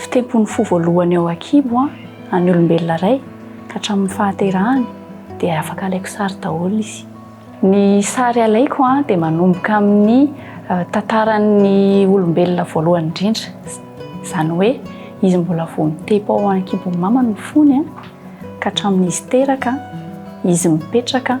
Fitempon'ny fo voalohany ao an-kibo an, an'ny olombelona iray ka hatramin'ny fahaterahany dia afaka alaiko sary daholo izy. Ny sary alaiko an dia manomboka amin'ny tantaran'ny olombelona voalohany indrindra, izany hoe izy mbola vao mitepo ao an-kibon'ny mamany ny fony an, ka hatramin'izy teraka, izy mipetraka,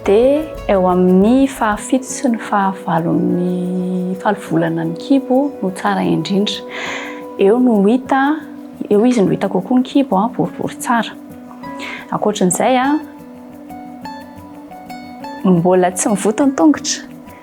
Dia eo amin'ny fahafito sy ny fahavalon'ny falo volana ny kibo no tsara indrindra. Eo no hita, eo izy no hita kokoa ny kibo, boribory tsara. Ankoatran'izay, mbola tsy mivoto ny tongotra.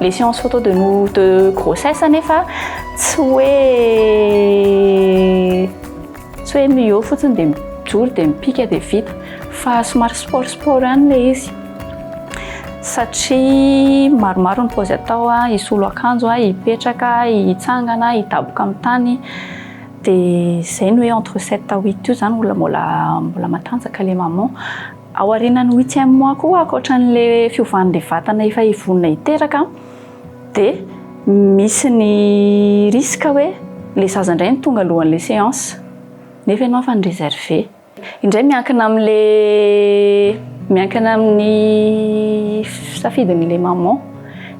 Les séances photo de nous de grossesse anefa tsy hoe tsy hoe mihaut fotsiny dia mijoro dia mipika dia vita fa somary sport sport ihany ilay izy satria maromaro ny paozy atao a, hisolo akanjo a, hipetraka, hitsangana, hidaboka amin'ny tany dia izay ny hoe entre sept à huit io izany mbola mbola mbola matanjaka ilay maman Ao aorianan'ny huitième mois koa ankoatra an'le fiovan'le vatana efa vonona hiteraka de misy ny risque hoe le zaza indray no tonga alohan'le séance nefa ianao efa ni-reserve. Indray miankina am'le miankina amin'ny safidin'le maman,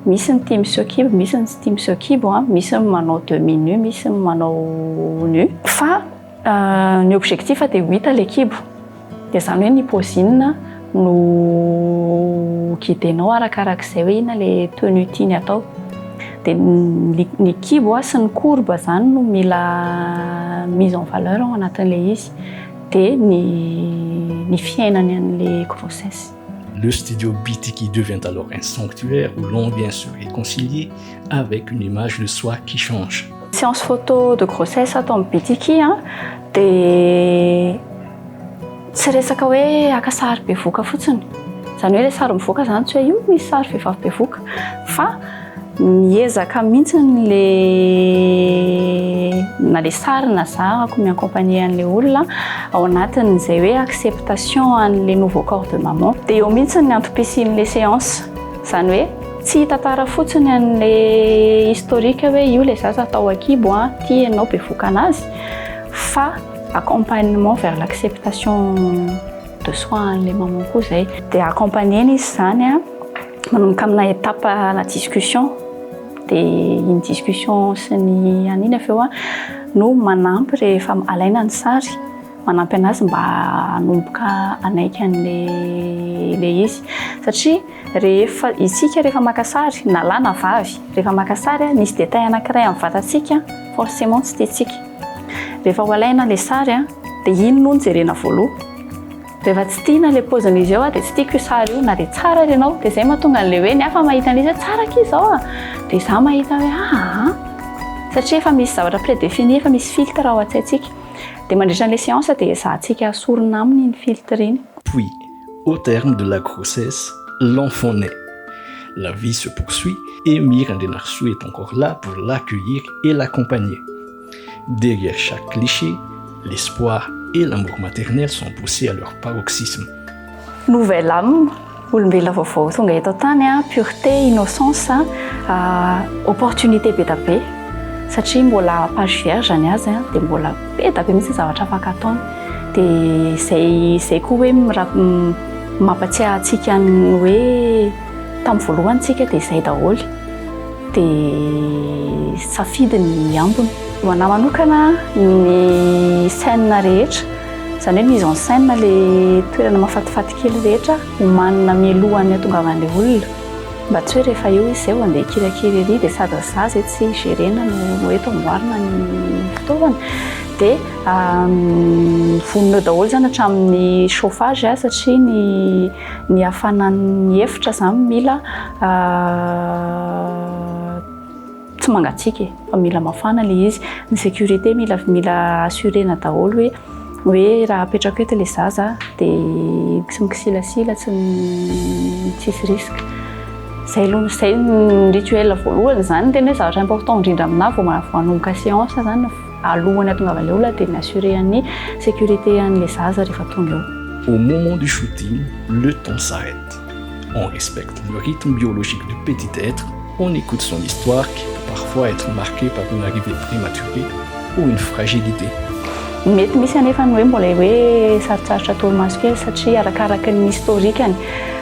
misy ny tia miseho kibo, misy ny tsy tia miseho kibo, misy ny manao demi nu, misy ny manao nu fa Ny objectif dia ho hita ilay kibo, dia izany hoe ny pozinina no guidenao arakaraka izay hoe inona ilay tenue tiany atao. Dia ny kibo sy ny courbe izany no mila mise en valeur ao anatin'ilay izy, dia ny ny fiainany an'ilay grossesse. Le studio BTK devient alors un sanctuaire où l'on vient se réconcilier avec une image de soi qui change. Séance photo de grossesse atao amin'ny BTK dia tsy resaka hoe haka sary bevoka fotsiny. Izany hoe ilay sary mivoaka izany tsy hoe io misy sary vehivavy bevoka fa Miezaka mihitsy le na le sary na zarako mi accompagner an'le olona ao anatin'izay hoe acceptation an'le nouveau corps de maman. Dia eo mihitsy ny antom-pisian'le séance. Izany hoe tsy hitantara fotsiny an'le historique hoe io le zaza tao an-kibo an, ity ianao bevoka anazy fa accompagnement vers l'acceptation de soi an'le maman koa izay. Dia accompagner-na izy izany an. Manomboka amina étape à la discussion dia iny discussion sy ny an'iny avy eo a no manampy rehefa alaina ny sary manampy anazy mba hanomboka hanaiky an'ilay ilay izy satria rehefa isika rehefa maka sary na lahy na vavy rehefa maka sary a misy détail anankiray amin'ny vatantsika forcément tsy tiantsika rehefa ho alaina ilay sary a dia iny no jerena voaloha Rehefa tsy tiana ilay paozin'izy eo dia tsy tiako io sary io na dia tsara ary ianao dia izay mahatonga an'ilay hoe ny hafa mahita an'izy hoe tsara akia izao a! dia izaho mahita hoe aa! satria efa misy zavatra prédéfini, efa misy filtre ao an-tsaintsika. Dia mandritra an'ilay séance dia ezahantsika asorina aminy iny filtre iny. Puis, au terme de la grossesse, l'enfant naît. La vie se poursuit et Mirandrianarisoa est encore là pour l'accueillir et l'accompagner. Derrière chaque cliché, l'espoir et l'amour maternel sont poussés à leur paroxysme. Nouvelle âme, olombelona vaovao tonga eto an-tany a, pureté, innocence a, opportunité be da be satria mbola page vierge ny azy a, dia mbola be da be mihitsy ny zavatra afaka ataony, dia izay izay koa hoe mampatsiahy antsika ny hoe. Tamin'ny voalohany tsika dia izay daholo dia safidy ny ambiny. Ho anà manokana ny scène rehetra, izany hoe mise en scène ilay toerana mahafatifaty kely rehetra homanina mialohan'ny hatongavan'ilay olona mba tsy hoe rehefa eo izy izay vao andeha hikirakira ery dia sady ny zaza eto tsy gerena no eto amboarina ny fitaovana dia vonona eo daholo izany hatramin'ny chauffage satria ny ny hafanan'ny efitra izany mila tsy mangatsiaka e, fa mila mafana ilay izy, ny sécurité mila mila assurena daholo hoe hoe raha apetrako eto ilay zaza dia tsy mikisilasila, tsy tsisy risque. Izay aloha izay ny rituel voalohany, izany ny tena hoe zavatra important indrindra aminà vao manomboka séance izany. Alohan'ny hatongavan'ilay olona dia mi-assurer an'ny sécurité an'ilay zaza rehefa tonga eo. Au moment du shooting, le temps s'arrête. On respecte le rythme biologique du petit être, on écoute son histoire qui peut parfois être marquée par une arrivée prématurée ou une fragilité. Mety misy anefa ny hoe mbola hoe sarotsarotra torimaso kely satria arakaraky ny historique-ny.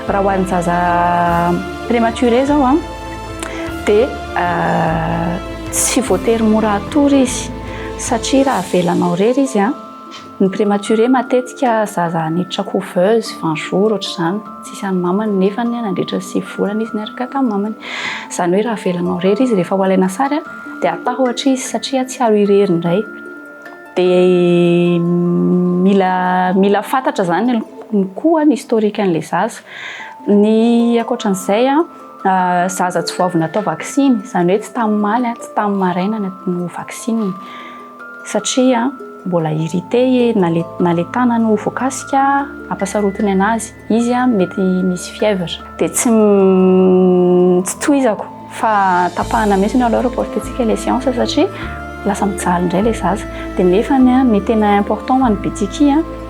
Raha ho an'ny zaza prématuré izao a. dia tsy voatery mora hatory izy satria raha avelanao irery izy an, ny prematuré matetika zaza niditra couveuse vingt jours ohatr'izany tsisy an'ny mamany nefa nandritra ny sivy volana izy niaraka tamin'ny mamany, izany hoe raha avelanao irery izy rehefa ho alaina sary an dia atahotry izy satria tsy azo irery indray, dia mila mila fantatra izany koa ny historique an'ilay zaza, ny ankoatran'izay an. zaza tsy vao avy natao vaksiny, izany hoe tsy tamin'ny maly, tsy tamin'ny maraina no vaksinina satria mbola irrité na le na le tanany ho voakasika ampasarotiny anazy, izy mety misy fièvre dia tsy tsy tohizako fa tapahana mihitsy aloha reporter-tsika ilay séance satria lasa mijaly indray ilay zaza dia nefany ny tena important ho an'ny betsiky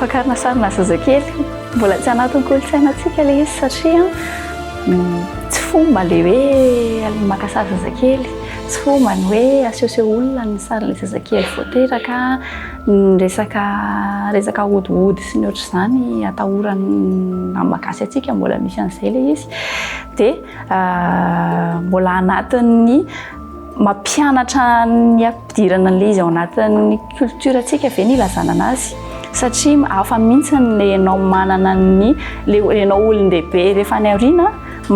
Fakarina sarina zazakely, mbola tsy anatin'ny kolontsainantsika ilay izy satria tsy fomba ilay hoe maka sary zazakely, tsy fomba ny hoe asehoseho olona ny sarin'ilay zazakely vao teraka, ny resaka resaka hodiody sy ny ohatr'izany atahoran'ny nama gasy antsika mbola misy an'izay ilay izy dia mbola anatin'ny mampianatra ny hampidirana an'ilay izy ao anatin'ny culture tsika ve ny ilazana anazy satria hafa mintsy le enao manana ny le enao olondehibe refa any aoriana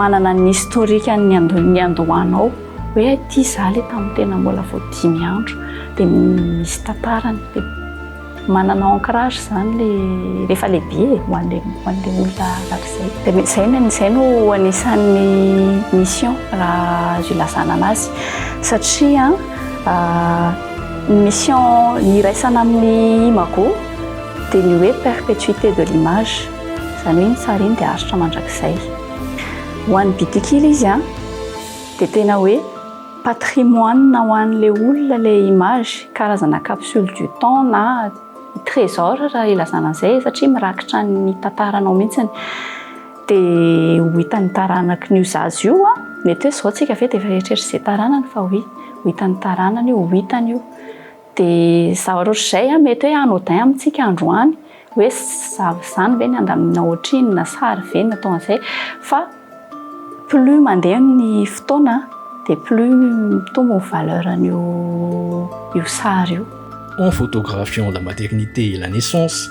manana ny historique ny niandohanao hoe aty za le tam tena mbola vao dimy andro de misy tantarany de manana ancrage zany le refa lehibe e ho anle ho anle olona arak'izay de mety zay ny zay no anisan'ny mission raha azo ilazana anazy satria Ny mission iraisana amin'ny imago dia ny hoe perpetuité de l'image, izany hoe ny sary iny dia aritra mandrakizay. Ho an'ny Bitikila izy dia tena hoe patrimoine ho an'ilay olona ilay image, karazana capsule du temps na trésor raha ilazana an'izay satria mirakitra ny tantaranao mihitsy. Dia ho hitan'ny taranaky ny io zaza io an, mety hoe izao tsika ve dia efa eritreritra izay taranany fa oui, ho hitan'ny taranany io, ho hitany io. Dia zavatra ohatr'izay an, mety hoe anodin amintsika androany, hoe zaza zany ve ny handamina ohatrinona, na sary ve ny atao an'izay, fa plus mandeha ny fotoana dia plus mitombo ny valeur an'io io sary io. En photographiant la maternité et la naissance,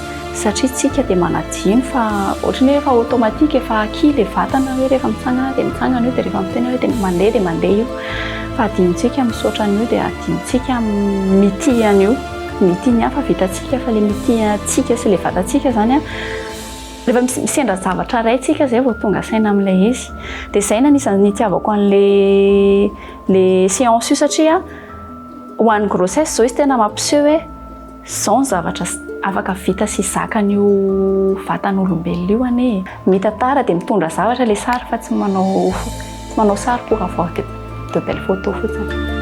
Satria isika dia manadino fa ohatry ny hoe efa automatique, efa acquis ilay vatana hoe rehefa mitsangana dia mitsangana io, dia rehefa miteny hoe dia mandeha dia mandeha io. Fa adinontsika misaotra an'io dia adinontsika mitia an'io. Mitia ny hafa vitantsika fa ilay mitia antsika sy ilay vatantsika izany an, rehefa misendra zavatra iray isika izay vao tonga saina amin'ilay izy. Dia izay no anisan'ny nitiavako an'ilay ilay séance io satria ho an'ny grossesse izao izy tena mampiseho hoe. Zao ny zavatra afaka vita sy zakan'io vatan'olombelona io anie e! Mitantara dia mitondra zavatra ilay sary fa tsy manao tsy manao sary pour avoir de de belles photos fotsiny.